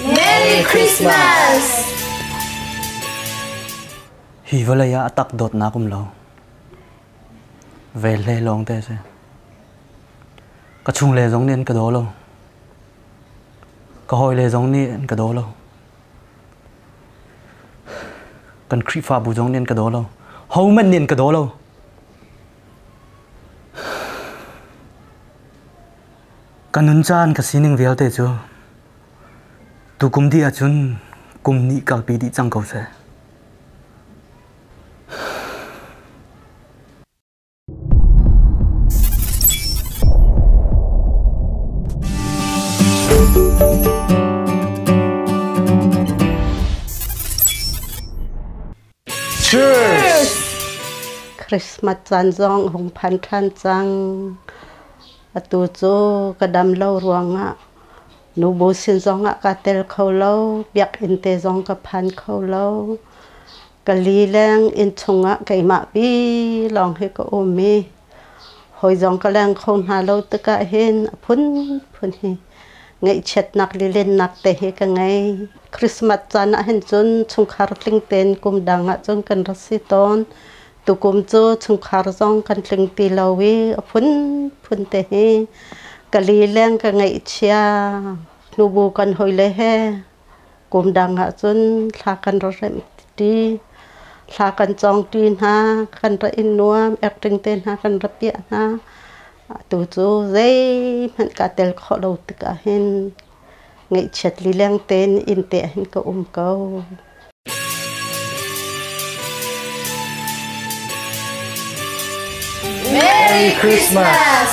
Merry Christmas! Hi vawlei ah a tak dawtnak um lo. Ve hle lawng te a si. Ka chungle zong nih an ka daw lo. Ka hawile zong nih an ka daw lo. Kan Khrihfabu zong nih an ka daw lo. Hohmanh nih an ka daw lo. Ka nun caan ka sining vialte cu tukum dih ahcun kum hnih kalpi dih cang ko seh. Christmas caan zong a hung phan ṭhan cang. Atu cu ka dam lo ruangah nubu sin zongah kaa tel kho lo. Biakinn te zong ka phan kho lo. Ka lileng inn chungah keimah pi lawng hi ka um i Hawi zong ka leng kho hna lo tikah hin a phunphun hi ngaihchiatnak lilennak te hi ka ngei. Christmas caan ahhin cun chungkhar tling tein kum dang ahcun kan ra si tawn. Tukum cu chungkhar zong kan tling ti lo i a phunphun te hi ka lileng ka ngaihchia hnubu kan hawile he Kum dang ahcun thla kan ra remh ṭi, thla kan cawng ṭi hna, kan ra in nuam, acting te hna kan ra piah hna. Atu cu zeihmanh kaa tel khawh lo tikah hin ngaihchiat lileng tein innte ah hin ka um ko. Merry Christmas!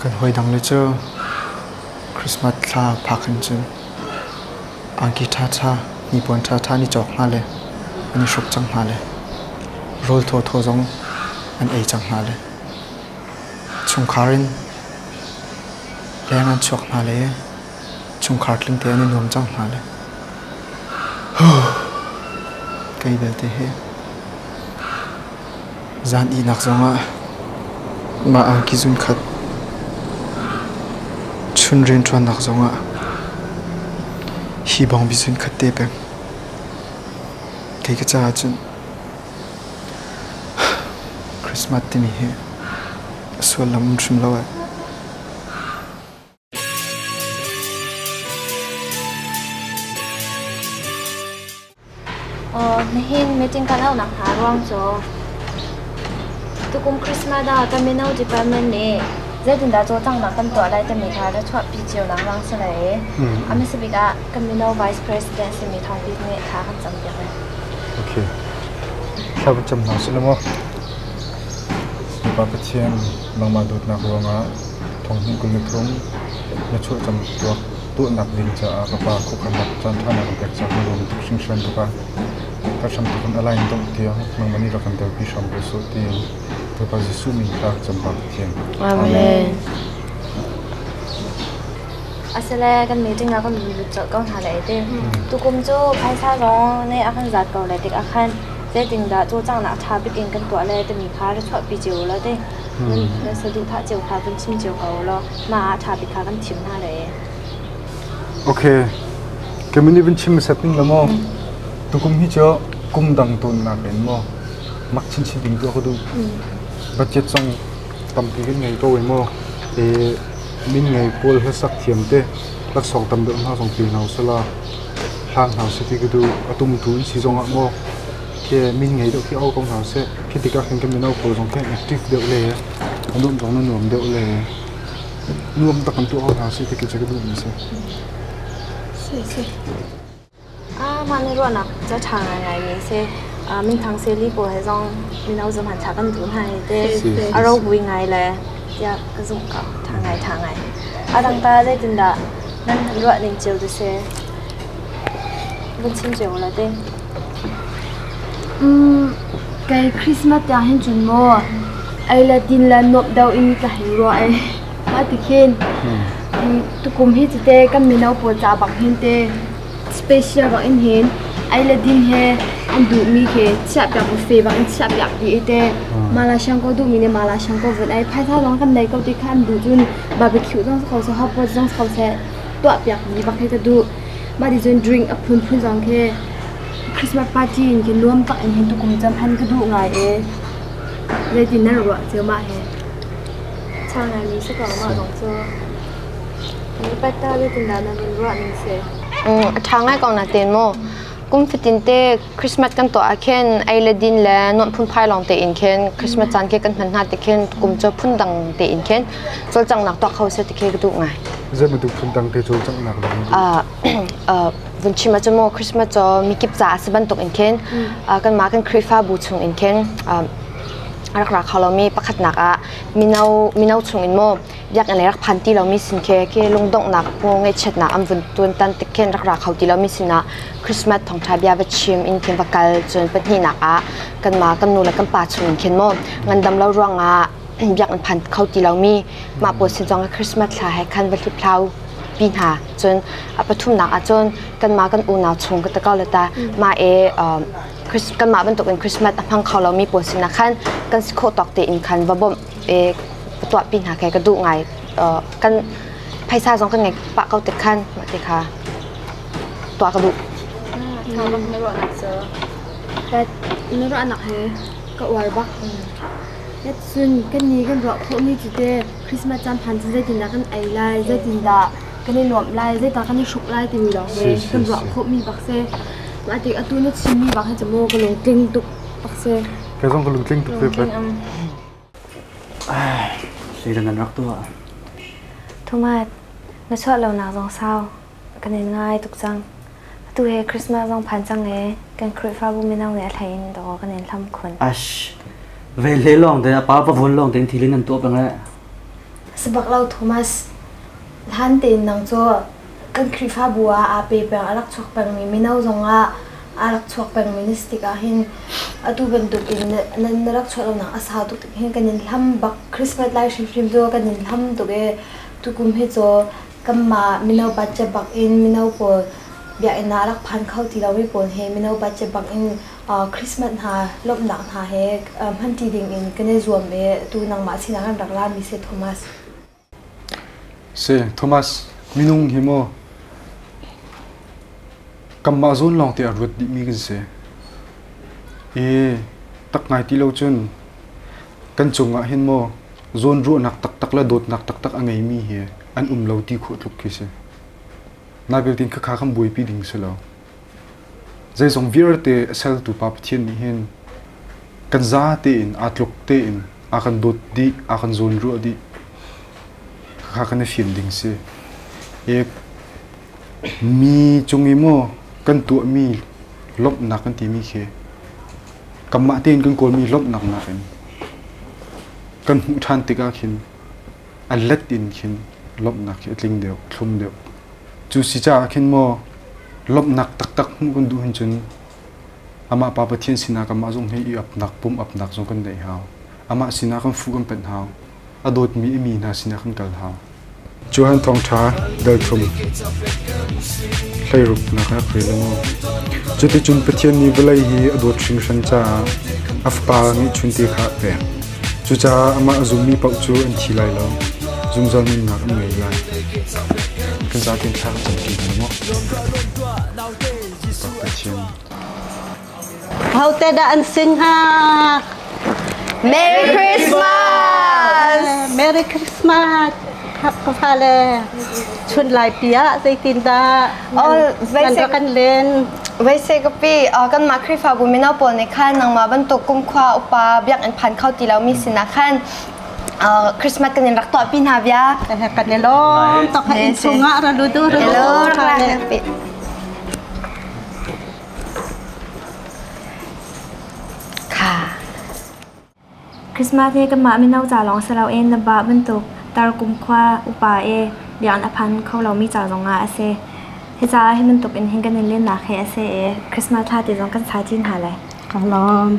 Kan hawidang le cu Christmas thla phak in cun angki ṭhaṭha, hnipuan ṭhaṭha an i cawk hna le an i hruk cang hna le rawl thawthaw zong an ei cang hna le chungkhar in leng an chuak hna le chungkhar tlingte an i nuam cang hna le kei belte hi Zan ihnak zongah mah angki zunkhat, chun rianṭuannak zongah hi bang bi zunkhat te peng. Kei ka caah cun Christmas timi hi a sullam hrim lo ai. Nihin meeting kan aunak hna ruang cu tukum Christmas ah kan mino department nih zeitindah cawlcanghnak kan tuah lai timi kha ra chuahpi cionak lawng si lo i a hmasa bik ah kan mino vice president simi Thawng Bik nih thla kan campiak lai. Okay. Thla kan cam hna sih lo maw? Bapak Pathian mangmah dawtnak ruangah Thawnghninh kul le thum Na chuah cang tuah tuahnak ding caah ka pa khuakhannak caanṭhanak an pek cang na lung tuk hringhran ka pa ka hram tuk in a lai in dongh tiang nangmah nih rak kan telpi hram ko sawh tiin ka pa Jesuh min tha can bak Pathian Amen. Asile kan meeting ah kan lut colh ko hna le ti. Tukum cu phaisa zong ne a kan zat ko le tik ah khan zeitin dah cu cang nak ṭha bik in kan tuah le timi kha ra chuahpi cio u law ti. Na saduhthah cio kha kan chim cio ko law mah ah ṭha bik kha kan thim hna le. Okay. Kemin i vun chim hmasat ning la maw? Tukum hi cu kum dang tawnnak in maw mak chinchin ding tuah ka duh. Budget song tampi kan ngei ko ai maw? E min ngei pawl hlasak thiam te laksawng tam deuh hna zong pe hna usala hlang hna seti ka duh atum tu in si zong ah maw khi min ngei deuh khi au ko hna seh. Khi tikah khin kan mino pawl zong khi an active deuh le an nuam zong na nuam deuh le nuam tak kan tuah ko hna seh ti cu ka duh mi si. Si si. Ah mah ne ruan nak cha tha ngai ngai mi se ah min thang se li pawl he zong mino zum han tha kan tu hna hi te Si, si. aro bui ngai le ya ka zum ka tha ngai tha ngai. Adang ta zeitin dah nan ruah ning chiu tu se Kei Christmas tiang hin cun maw ei le din le nuamh deuh in ka hei ruah ai. Mah tikhin tukum hi cite kan mino pawl ca bang hin te special rak in hin ei le din he an duhmi khi chiahpiak bu fe bang in chiahpiak dih i te mala shangko duhmi le mala shangko vun ai phaisa zong kan nei ko ti kha an duh cun barbecue zong si ko se hotpot zong si ko seh tuahpiakmi bak hi ka duh. Mah ti cun drink a phunphun zong khi Christmas party in khi nuam tak in hin tukum i cam han ka duh ngai e. Zeitin nan ruah cio mah he? Chang ngaimi si ko mah kong cu. Mi pata zeitin dah na vun ruah ning si? Um, a ṭha ngai kong na ten maw? Kum fatin te Christmas kan tuah ah khin ei le din le non phun phai lawng te in khin Christmas caan khi kan hman hna ti khin kum cu phun dang te in khin cawlcanghnak tuah kho se ti khi ka duh ngai. Zei bantuk phun dang te cawlcanghnak dah na duh? Ah vun chim ah maw Christmas cu mikip ca a si bantuk in khin kan mah kan Khrihfabu chung in khin rak ra kha lomi pakhatnak ah mino mino chung in maw biakinn rak phan ti lomi sin khi khi lungdonghnak pu ngaihchiatnak an vun tuantan tik khin rak ra kho ti lomi sinah Christmas thawngṭha bia va chim in khin va kal cun pahnihnak ah kanmah kan nu le kan pa chung in khin maw ngandam lo ruangah biakinn phan kho ti lomi mah pawl sin zong Christmas thla he khan va hliphlau pi hna cun a pathumnak ah cun kanmah kan unau chung ka takau lata ma e kanmah bantuk in Christmas a hmang kho lomi pawl sinah khan kan si khawh tawk te in khan va bawmh eh ka tuahpi hna kha ka duh ngai uh, kan phaisa zong kan ngei pah ko tik khan ti kha tuah ka duh na rak na ruah nak sir na ruah nak he ka uar bak yatsun kan ni kan ruah pho ni chu te christmas chan phan chu zeitin da kan ai lai zeitin da kan i nuam lai zeitin kan i shruk lai timi lo he kan ruah pho mi bak se ma ti atu na chim mi bak he chamo ka lung tling tuk bak se Kei zong ka lungtling tuk veve. Seidan an rak tuah. Thumat, na chuah lonak zong sau. Kan in ngai tuk cang. Atu he Christmas zong phan cang e. Kan Khrihfabu mino nih a hlei in daw kan in hlam khun. Ash, ve le lawng te, pa pa vun lawng te in thilin an tuah peng le. Sabak lo Thomas. Hlan tein nang cu kan Khrihfabu ah aa pe peng a rak chuak pengmi mino zong ah aa rak chuak pengmi na si tikah hin atu bantuk in na, na, na rak chuah lonak a sau tuk hin kan in hlam bak Christmas lai hrimhrim cu kan in hlam tuk i tukum hi cu kanmah mino bacha bak in mino pawl biakinn ah rak phan kho ti lomi pawl he mino bacha bak in uh, Christmas hna lawmhnak hna he uh, hmanṭi ding in kan i zuam i atu nangmah sinah kan rak lami si Thomas. Si, Thomas, minung hi maw kanmah zawn lawng te a ruat dihmi kan si. I tak ngai ti lo cun kan cungah hin maw zawnruahnak taktak le dawtnak taktak a ngeimi hi an um lo ti khawh tluk khi si. Nai belte kha kha kan buaipi ding si lo. Zeizong vialte a sertu Pa Pathian nih hin kan za tein, aa tluk tein aa kan dawt dih, aa kan zawnruah dih. Khakha kan i fim ding si. E, mi cung i maw kan tuahmi lawmhnak kan timi khi kanmah tein kan kawlmi lawmhnak nakin kan hmuh ṭhan tikah khin an let in khin lawmhnak hi a tling deuh, a thlum deuh. Cu si caah khin maw lawmhnak taktak hmuh kan duh hin cun amah Pa Pathian sinah kanmah zong hi i upnak pum upnak zong kan neih hau. Amah sinah kan fuh kan panh hau. A dawtmi i mi hna sinah kan kal hau. Johan Thawngṭha Dalthum Hleiruknak ah rel maw. Cuticun Pathian nih vawlei hi a dawt hringhran caah a Fapa nih chunte kha a pek. Cucaah amah a zummi paoh cu an thi lai lo. Zungzal nunnak an ngei lai. Kan zaten thla kan campi hna maw? Pathian Ahote dah an sing hnga? Merry Christmas! Merry Christmas! Ka fale, chun laipi ah zeitindah Nan kan len. Veise kapi kan mah Krifabu mino pawl nih khan nangmah bantuk kumkhwa upa biak in phan kho ti lo mi sinah khan Christmas kan in rak tuah pi hna bia. Kan ne lom tok ha in chungah ra lu du ru du. Ka. Christmas hi kanmah mino ca lawng si loin na vah bantuk Tarkum khua upa i biakinn a phan kho lomi ca zongah a si. Hi caah hi bantukin hin kan i lennak hi a si i Christmas thla ti zong kan sa chin hna lai. Ka lawm.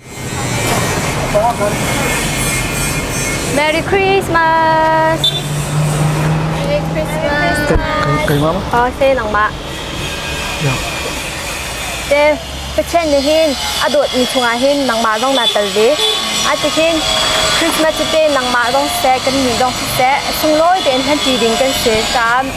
Merry Christmas! Merry Christmas! Keimah ma? Oh, se nang ma. Ya. Te, Pathian nih hin a dawt mi chungah hin nangmah zong na tel ve. A tihin Christmas te nangmah zong seh kan ni zong seh sunglawi tein hman ṭi ding kan si caah